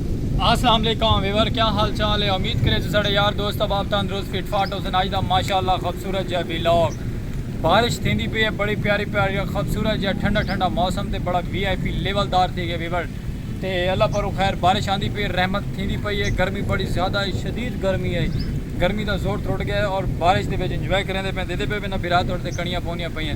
اسلام علیکم ویور کیا حال چال ہے امید کرے جو ساڑے یار دوست احباب تندرست فٹ فاٹ ہوسن آج دا ماشاءاللہ خبصورت جہا ویلاگ بارش تھیندی پئی ہے بڑی پیاری پیاری خبصورت جہا ٹھنڈا ٹھنڈا موسم تے بڑا وی آئی پی لیول دار تھی گیا ویور تے اللہ پرو خیر بارش آندی پئی ہے رحمت تھیندی پئی ہے گرمی بڑی زیادہ ہے شدید گرمی ہے گرمی دا زور ترٹ گیا ہے اور بارش دے وچ انجوائے کریندے پئے دیدے پئے پئے نہ بھرا تہاڈے تے کڑیاں پوندیاں پئی ہیں۔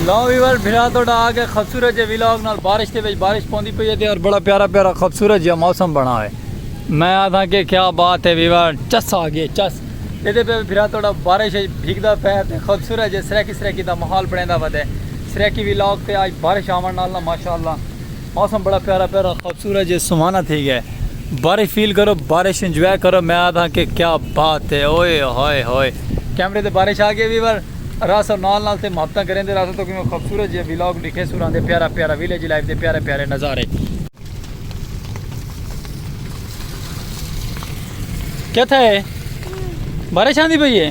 لو ویور بھرا تو ڈا آگے خوبصورت جے ویلاگ نال بارش دے وچ بارش پوندی پئی ہے اور بڑا پیارا پیارا خوبصورت جے موسم بنا ہے میں آدھا کہ کیا بات ہے ویور چس آگے چس یہ دے پہ بھرا تو ڈا بارش ہے بھیگ دا پہ ہے خوبصورت جے سریکی سریکی دا محال بڑھیں دا ودے سریکی ویلاگ تے آج بارش آمان نال نا ماشاءاللہ موسم بڑا پیارا پیارا خوبصورت جے سہانا تھی گئے بارش فیل کرو بارش انجوائے کرو میں آدھا کہ کیا بات ہے اوئے ہوئے ہوئے کیمرے تے بارش آ گئے ویور راس اور نال نال تے محبتاں کریں دے راس تو کہ میں خوبصورت جے ویلاگ لکھے سوراں دے پیارا پیارا ویلیج لائف دے پیارے پیارے نظارے کیا تھا ہے بارش آندی پئی ہے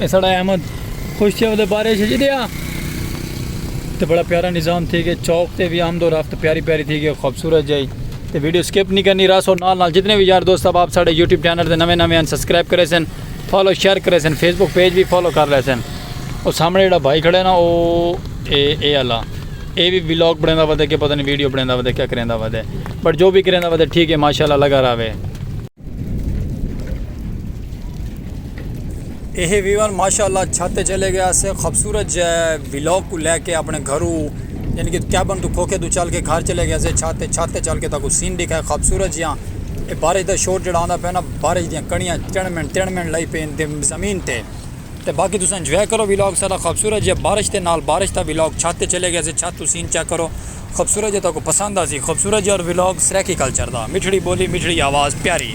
اساڑا احمد خوش تھیا ودے بارے شجی دیا تے بڑا پیارا نظام تھی گئے چوک تے بھی آمد و رفت پیاری پیاری تھی گئے خوبصورت جائی تے ویڈیو سکپ نہیں کرنی راس اور نال نال جتنے بھی یار دوست اب آپ ساڑے یوٹیوب چینل دے نوے نوے ہیں سبسکرائب کرے سن فالو شیئر کرے سن فیس بک پیج بھی فالو کر لے سن اور سامنے جڑا بھائی کھڑے نا او اے اے اللہ اے بھی ویلوگ بڑھیں دا ودے کہ پتہ نہیں ویڈیو بڑھیں دا ودے کیا کریں دا ودے بٹ جو بھی کریں دا ودے ٹھیک ہے ماشاءاللہ لگا رہا ہے اے ہے ویوان ماشاءاللہ چھت تے چلے گیا سے خوبصورت جے ویلوگ کو لے کے اپنے گھرو یعنی کہ کیبن تو کھوکے تو چل کے گھر چلے گیا سے چھت تے چھت تے چل کے تاکو سین دکھا ہے خوبصورت جیاں اے بارش دا شور جڑا آندا پہنا بارش دیاں کڑیاں چڑمن تڑمن لئی پین دے زمین تے تے باقی تساں انجوائے کرو ویلوگ سارا خوبصورت جے بارش تے نال بارش دا ویلوگ چھت تے چلے گیا سے چھت تو سین چیک کرو خوبصورت جے تہاکوں پسند آسی خوبصورت جے اور ولاگ سرائیکی کلچر دا مٹھڑی بولی مٹھڑی آواز پیاری۔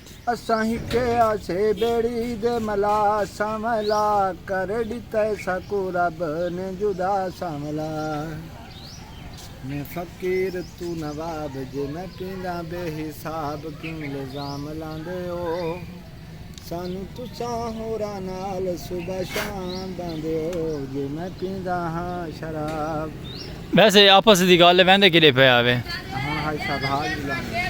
اساں ہکے آسے بیڑی دے ملا سانولا کر ڈتا ہے ساکوں رب نے جدا سانولا میں فقیر توں نواب جے میں پینداں بے حساب کیوں الزام لاندے او سانوں تساں ہوراں نال صبح شام باندے او جے میں پینداں ہاں شراب۔ ویسے آپس دی گالھ ویندے کیڈے پئے آوے۔ ہن ہائی سا بھاگ دی لانگ ہے۔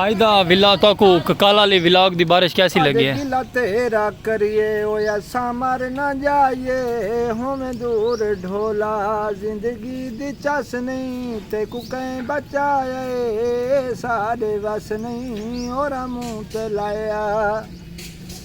آئی دا ولا تاکو ککال آلی ولاگ دی بارش کیسی لگی ہے۔ آدھے گلا تیرا کریے او اسا مر نہ جائیے ہوویں دور ڈھولا زندگی دی چس نہیں تیکو کئیں بچایا اے ساڈے وس نہیں اوراں منہ تے لایا۔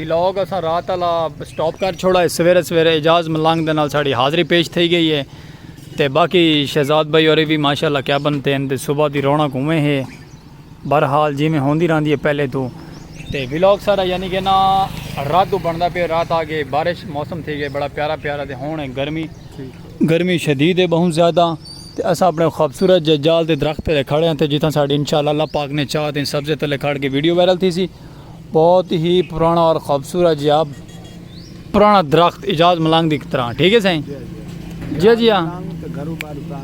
ولاگ اساں رات آلا سٹاپ کر چھوڑا ہے سویرے سویرے اعجاز ملنگ دے نال ساڑی حاضری پیش تھئی گئی ہے تے باقی شہزاد بھائی ہوری وی ماشاءاللہ کیبن تین تے صبح دی رونق اوویں ہے بہرحال جیویں ہوندی رہندی ہے پہلے توں تے ولاگ ساڑا یعنی کہ نا رات توں بندا پے رات آ گئے بارش موسم تھئی گئے بڑا پیارا پیارا تے ہن ہے گرمی گرمی شدید ہے بہوں زیادہ تے اساں اپنے خوبصورت ججال دے درخت تلے کھڑے ہیں تے جتھاں ساڑی انشاءاللہ اللہ پاک نے چاہ تے سبزے تلے کھڑ کے ویڈیو وائرل تھی سی۔ بہت ہی پرانا اور خوبصورت جی آپ پرانا درخت اجاز ملنگ دی طرح ٹھیک ہے سائیں جی جی ہاں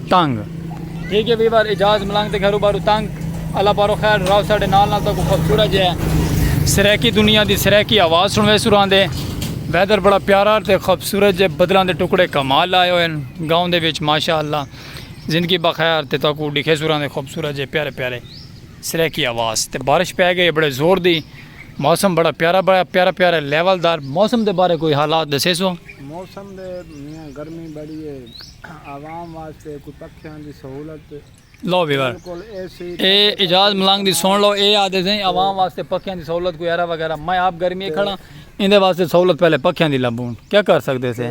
تنگ ٹھیک ہے ویور اجاز ملنگ تے گھرو بارو تنگ اللہ پارو خیر راو ساڈے نال نال تک خوبصورت جی ہے سریکی دنیا دی سریکی آواز سنوے سران دے ویدر بڑا پیارا تے خوبصورت جے بدلاں دے ٹکڑے کمال لائے ہوئے گاؤں دے وچ ماشاءاللہ زندگی بخیر تے تاکو ڈکھے سران دے خوبصورت جے پیارے پیارے سریکی آواز تے بارش پے گئی ہے بڑے زور دی موسم بڑا پیارا بڑا پیارا پیارا لیول دار موسم دے بارے کوئی حالات دسے سو۔ موسم دے میاں گرمی بڑی ہے عوام واسطے کوئی پکھیاں دی سہولت لو ویور اے اعجاز ملنگ دی سن لو اے آدھے سیں عوام واسطے پکھیاں دی سہولت کوئی ایرا وغیرہ میں آپ گرمی کھڑا ایندے واسطے سہولت پہلے پکھیاں دی لبون کیا کر سکدے سے۔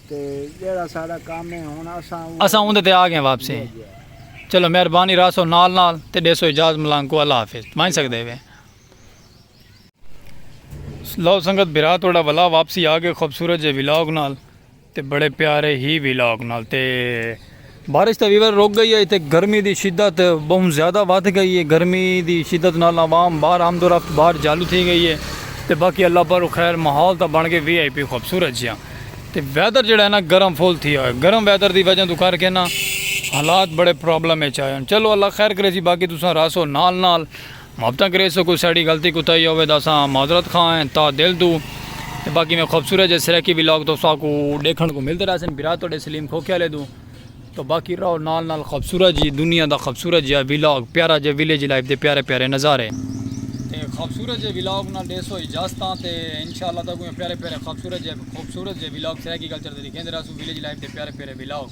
اساں اوندے تے آ گئے واپسی چلو مہربانی راسو نال نال تے ڈیسو اجاز ملانگ کو اللہ حافظ ونج سکدے وے۔ لو سنگت بھرا توڑا ولا واپسی آ گئے خوبصورت جے ولاگ نال تے بڑے پیارے ہی ولاگ نال تے۔ بارش تے ویور رک گئی ہے تے گرمی دی شدت بہوں زیادہ ودھ گئی ہے گرمی دی شدت نال عوام باہر آمد و رفت باہر جالو تھی گئی ہے تے باقی اللہ پر خیر ماحول تاں بن گئے وی آئی پی خوبصورت جیاں تے ویدر جیڑا ہے نا گرم فل تھی آیا گرم ویدر دی وجہ توں کر کے نا حالات بڑے پرابلم اچ آئے ہن چلو اللہ خیر کریسی باقی تساں رہسو نال نال محبتاں کریسو کوئی ساڑی غلطی کوتاہی ہووے تاں اساں معذرت خواہ ہیں تہہ دل توں تے باقی میں خوبصورت جے سرائیکی ولاگ تساکو ڈیکھن کوں ملدے رہسن بھرا تہاڈے سلیم کھوکھے آلے توں تاں باقی رہو نال نال خوبصورت جی دنیا دا خوبصورت جیہا ولاگ پیارا جے ولیج لائف دے پیارے پیارے نظارے تے خوبصورت جے ولاگ نال ڈیسو اجازتاں تے انشاءاللہ تہاکوں ایہ پیارے پیارے خوبصورت جے خوبصورت جے ولاگ سرائیکی کلچر دے ڈیکھیندے رہسوں ولیج لائف دے پیارے پیارے ولاگ۔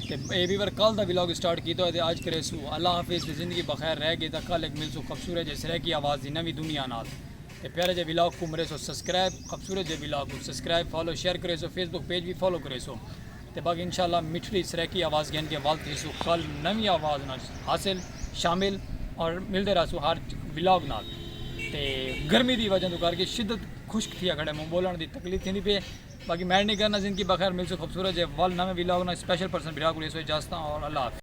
تے اے وی ور کل دا ولاگ سٹارٹ کیتا ہوئے تے اج کریسو اللہ حافظ تے زندگی بخیر رہ گئی تاں کل ہک ملسو خبصورت جے سریکی آواز دی نویں دنیا نال تے پیارے جے ولاگ کوں مریسو سبسکرائب خبصورت جے ولاگ کوں سبسکرائب فالو شیئر کریسو فیس بک پیج وی فالو کریسو تے باقی انشاءاللہ مٹھڑی سریکی آواز گھن کے ول تھیسو کل نویں آواز نال حاصل شامل اور ملدے رہسو ہر ولاگ نال تے گرمی دی وجہ توں کر کے شدت خشک تھیا کھڑے موں بولن دی تکلیف تھیندی پے باقی میڈ نی کرنا زندگی بخیر ملسوں خوبصورت جے ول نویں ویلاگ نال اسپیشل پرسن بھرا کول ایسو اجازتاں اور اللہ حافظ۔